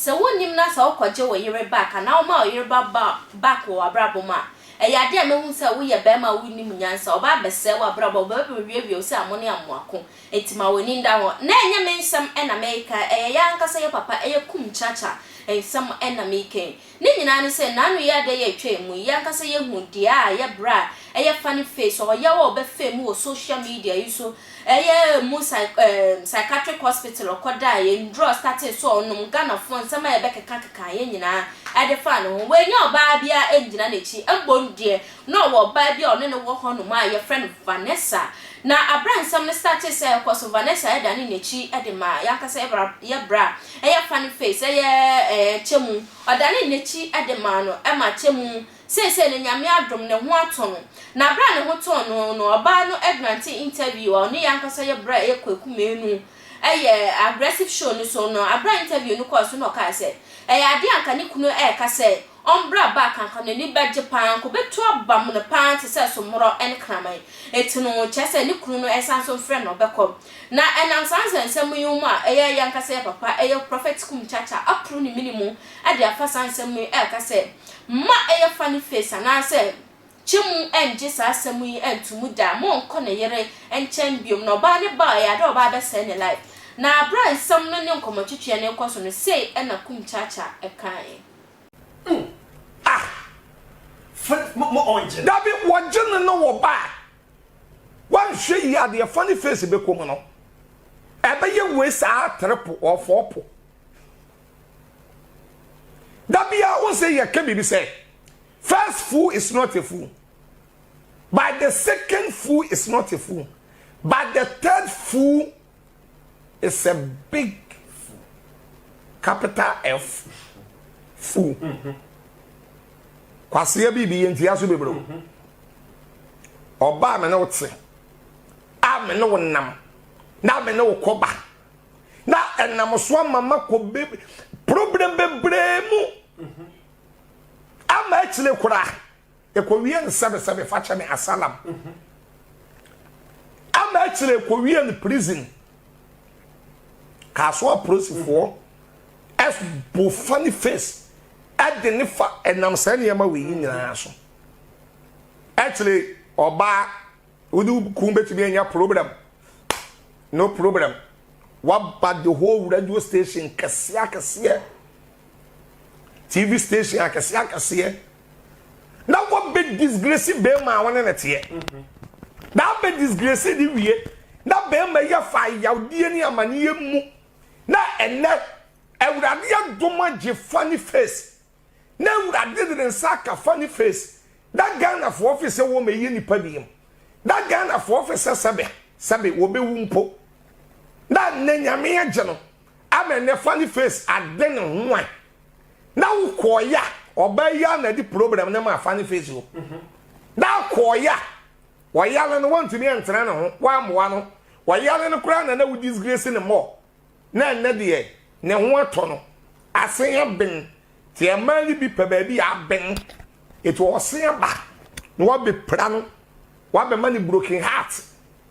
Sɛ wonnim na sɛ wokɔgye wo yere back anaa woma wo yere ba ba back wɔ w'abrabɔ mu a, ɛyɛ adeɛ a mɛhu sɛ woyɛ barima a wonnim nyansa, ɔba abɛsɛe w'abrabɔ, ɔba abɛwiawia wo sɛ amone amoako. Enti ma w'ani nda hɔ na ɛnyɛ me nsɛm na mereka, ɛyɛ yɛn ankasa yɛn papa ɛyɛ kum kyakya nsɛm na merekan. Ne nyinaa ne sɛ nnaano yi ada yi a ɛtwaam mu yi yɛn ankasa yɛahu deɛ a ɛyɛ bra a ɛyɛ funny face ɔyaw a ɔbɛfaa mu wɔ social media yi so ɛyɛ mu psych ehm psychiatric hospital ɔkɔdaeɛ, nnuro a ɔstartee so a ɔnom, Ghanafoɔ nsɛm a yɛbɛkekakekaa yɛn nyinaa ɛde faa ne ho. Wannya ɔbaa biara angyina n'akyi, mmom deɛ. Na ɔwɔ ɔbaa bi a ɔne no wɔ hɔnom a wɔfrɛ no Vanessa. Na bere a nsɛm no startee sɛ ɛrekɔ so, Vanessa danee n'akyi de maa yɛn ankasa yɛn bra, yɛn bra a ɛyɛ funny face, ɛyɛ ɛɛ Kyɛmu. Ɔdanee n'akyi de maa no ma Kyɛmu. Seesei no, Nyame adom, ne ho atɔ no. Na bere a ne ho tɔɔ no no, ɔbaa no grantee interview a ɔne yɛn ankasa yɛn bra a ɛyɛ Kwaku Manu yɛ aggressive show no so no. Bere a interview no kɔɔ so no na ɔkae sɛ ɛyɛ ade a anka ne kunu reka sɛ Ɔmbra back anka n'ani bɛgye paa, anka obetu abam no paa te sɛ somorɔ ne kraman. Enti no, kyerɛ sɛ ne kunu no resan nso mfrɛ no, ɔbɛkɔ. Na ɛnam saa nsɛnsɛm yi mu a ɛyɛ yɛn ankasa yɛn papa, ɛyɛ Prophet Kum Kyakya, aporo ne mini mu de afa saa nsɛm yi reka sɛ, Mma ɛyɛ funny face anaasɛ kye mu nnye saa asɛm yi nto mu da, monnkɔ ne yere nkyɛn biom. Na ɔbaa no ba a, ɛyɛ ada a ɔbaa bɛsɛe ne life. Na bere a nsɛm no ne nkɔmmɔtwetweɛ no rekɔ so no, sei na Kum Kyakya kaeɛ. dabi wɔgye no no wɔ baa wanhwɛ yi adeɛ fa ne face bɛkɔ mu no ɛbɛyɛ wei saa trepo ɔfɔ po dabi a wo sɛ yɛka biribi sɛ first fool is not a fool but the second fool is not a fool but the third fool It's a big fool, capital F fool. Kwaseɛ biribi yɛ ntua so bebree o. Ɔba a me ne wo te, a me ne wo nam, na me ne wo kɔba, na ɛnam so ama ma kɔ be problem bebree mu. Ama akyire koraa. Ekowie no sɛbesɛbe fakyɛ me asalam ama akyire ekowie no prison kaaso apolisifoɔ ɛbo funny face ɛde ne fa ɛnam saa nneɛma wei nyinaa so akyire ɔbaa wode kun betumi anya problem no problem waba the whole radio station kɛseɛ akɛseɛ tv station akɛseɛ akɛseɛ na wɔbɛ disgresi bɛrima a wɔne ne teɛ na abɛ disgresi ne wie na bɛrima yi afa ayawdeɛ ne amaneɛ mu na ɛnɛ awurade adom agye fa ne face na awurade de ne nsa aka fa ne face na ghanafoɔ fe sɛ wɔn ɛyɛ nipa biem na ghanafoɔ fe sɛ sɛbe sɛbe wɔbɛwu mpo na nnɛ nyame agye no ama ɛnɛ fa ne face ade ne ho an Na wo kɔɔ ya ɔbaa yi ana de problem ne ma afa ne face o na kɔɔ ya ɔyale no wɔntumi ɛntena ne ho wɔamoa no ɔyale no koraa na na wo disgrace ne mɔ na ɛnɛ deɛ ne ho atɔ no asen aben te ɛmaa ne bi pɛ baabi aben ɛti ɔsen aba na wɔbɛpira no wɔabɛma ne broken heart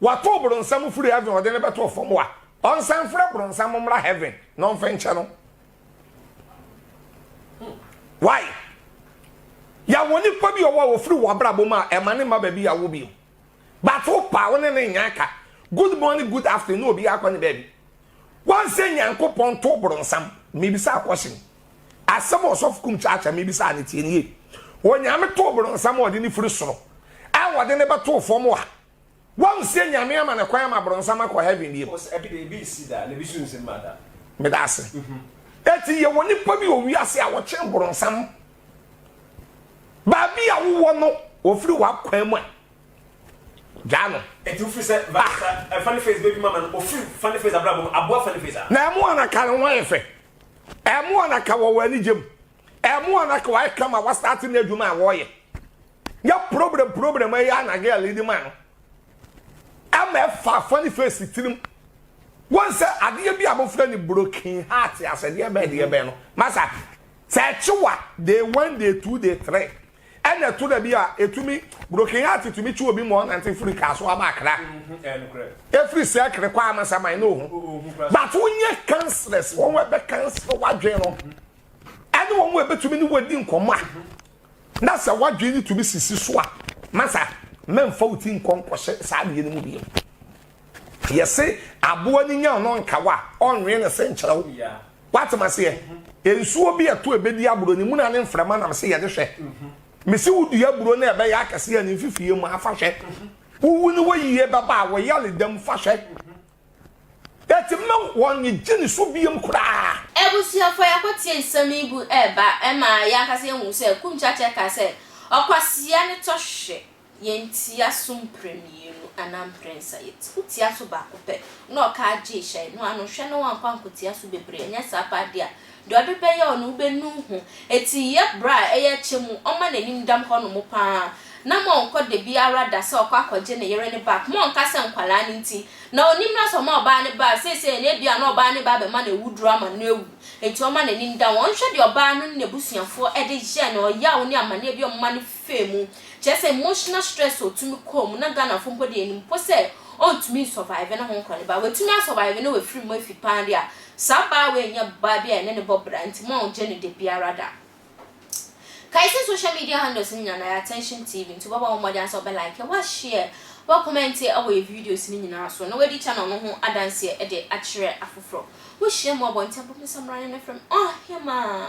Wɔatow bronsam firi heaven a ɔde no bɛtoo fam a, ɔnsan mfrɛ bronsam mmra heaven na ɔmfa nkyɛ no. Why? Yɛawo nipa bi a ɔwɔ a ofiri wɔ abrabɔ mu a ɛma ne mma baabi yɛawo bio. But wo pa wo ne ne nyɛ aka. Good morning, good afternoon na obiara akɔ ne baabi. Wɔn sɛ Nyankopɔn tow bronsam. Mebisa question. Asɛm a ɔsɔfo kum kyaakyaa mebisa no tie no yie. Onyame tow bronsam a ɔde no firi soro a ɔde no bɛtoo fam a Wahu sɛ Nyame ama no kwan ama bronsam akɔ heaven bio. Meda ase. Eti yɛwɔ nipa bi wɔ wiase a wɔkyɛn bronsam. Baabi a wowɔ no, ofiri w'akwan mu a, gyaa no. Eti wofiri sɛ ah. Eh, funny face baby mama no, ofiri funny face abrabɔ mu, aboa funny face a. Na ɛmo anaka ne ho ayɛ fɛ. Ɛmo anaka wɔ wɔ anigye mu. Ɛmo anaka wɔayɛ kama wɔastate n'adwuma a wɔyɛ. yɛ problem problem ɛyɛ anagye a lady man no ɛma ɛfa afa ne face tirim wɔn sɛ adeɛ bi a wɔfrɛ ne broken heart asɛdeɛ bɛɛ deɛ bɛɛ no masa sɛ ɛkyewa day one day two day three ɛna ɛto da bi a ɛtumi broken heart tumi kye obi ma ɔnante firi kaa so aba akra ɛfiri sɛ kere kɔ amasaman ne ɔhu but wonyɛ counsellors wɔn ɛbɛ counsel wadwen no ɛne wɔn ɛbɛtumi ne wɔdi nkɔmmɔ a Na sɛ w'adwene no tumi sisi so a, masa, mɛmfa wo ti nkɔ nkɔhyɛ saa adeɛ no mu bio. Yɛse aboa no nya ɔno nkawa a, ɔnwee ne se nkyerɛ wo. Woatem aseɛ? Mhm. Nsuo bi ɛto ɛbɛdi aburo no mu na ne mframa nam se yɛde hwɛ. Mhm. Mese wo dua aburo no ɛbɛyɛ akɛseɛ a ne mfifie mu a, fa hwɛ. Mhm. Wowu no wɔ yie bɛba a, wɔ yare dam, fa hwɛ. Enti mma wɔnnye ne su bio koraa. Abusuafo, yɛakɔtie nsɛm yi gu reba ma yɛn ankasa yɛahu sɛ Kumcacɛ ka sɛ, Ɔkwasea ne tɔhwehwɛ, yɛntia so mprɛmienu anaa mprɛnsa, yɛti ho tia so baako pɛ, na ɔka agye hyɛe, noa no nhwɛ na wankɔ ankotia so bebree, anyɛ saa pɛ ade a, Deɛ ɔde bɛyɛ wo no wobɛnu ho Eti yɛ bra a ɛyɛ kyɛ mu Ɔma n'anim dam hɔnom pa ara Na ma ɔnkɔ da biara da Sɛ ɔkɔ akɔgye ne yere ne ba Koma ɔnka sɛ nkwadaa no nti Na ɔnni mmara sɛ ɔma ɔbaa ne ba Seesei no ebia na ɔbaa ne ba bɛma no awuduro ama no awu Enti ɔma n'anim dam Ɔnhwɛ deɛ ɔbaa no ne n'abusuafoɔ de yɛ no Ɔyaw ne amaneɛ bi a ɔma no fa mu Kyerɛ sɛ emotional stress a ɔtumi kɔ mu Na Ghanafoɔ mpo deɛ yɛnim mpo sɛ ɔntumi nsurvive ne ho nkɔ ne ba Watumi asurvive na wafiri mu afi pa ara deɛ a Saa baa wei nyɛ baa bi a yɛne no bɔ bra nti mo a ogye no da biara da kae sɛ social media handles no nyinaa no ɛyɛ attention TV nti wobɛbɔ wo mmɔden ara sɛ wobɛ like, wo share, wobɛ comment wɔ yɛ videos no nyinaa so na wadi channel no ho adanseɛ de akyerɛ afoforɔ. Wohyia mu abɔnten a bɔ me nsa mmra ne me frɛ me ɔhemaa.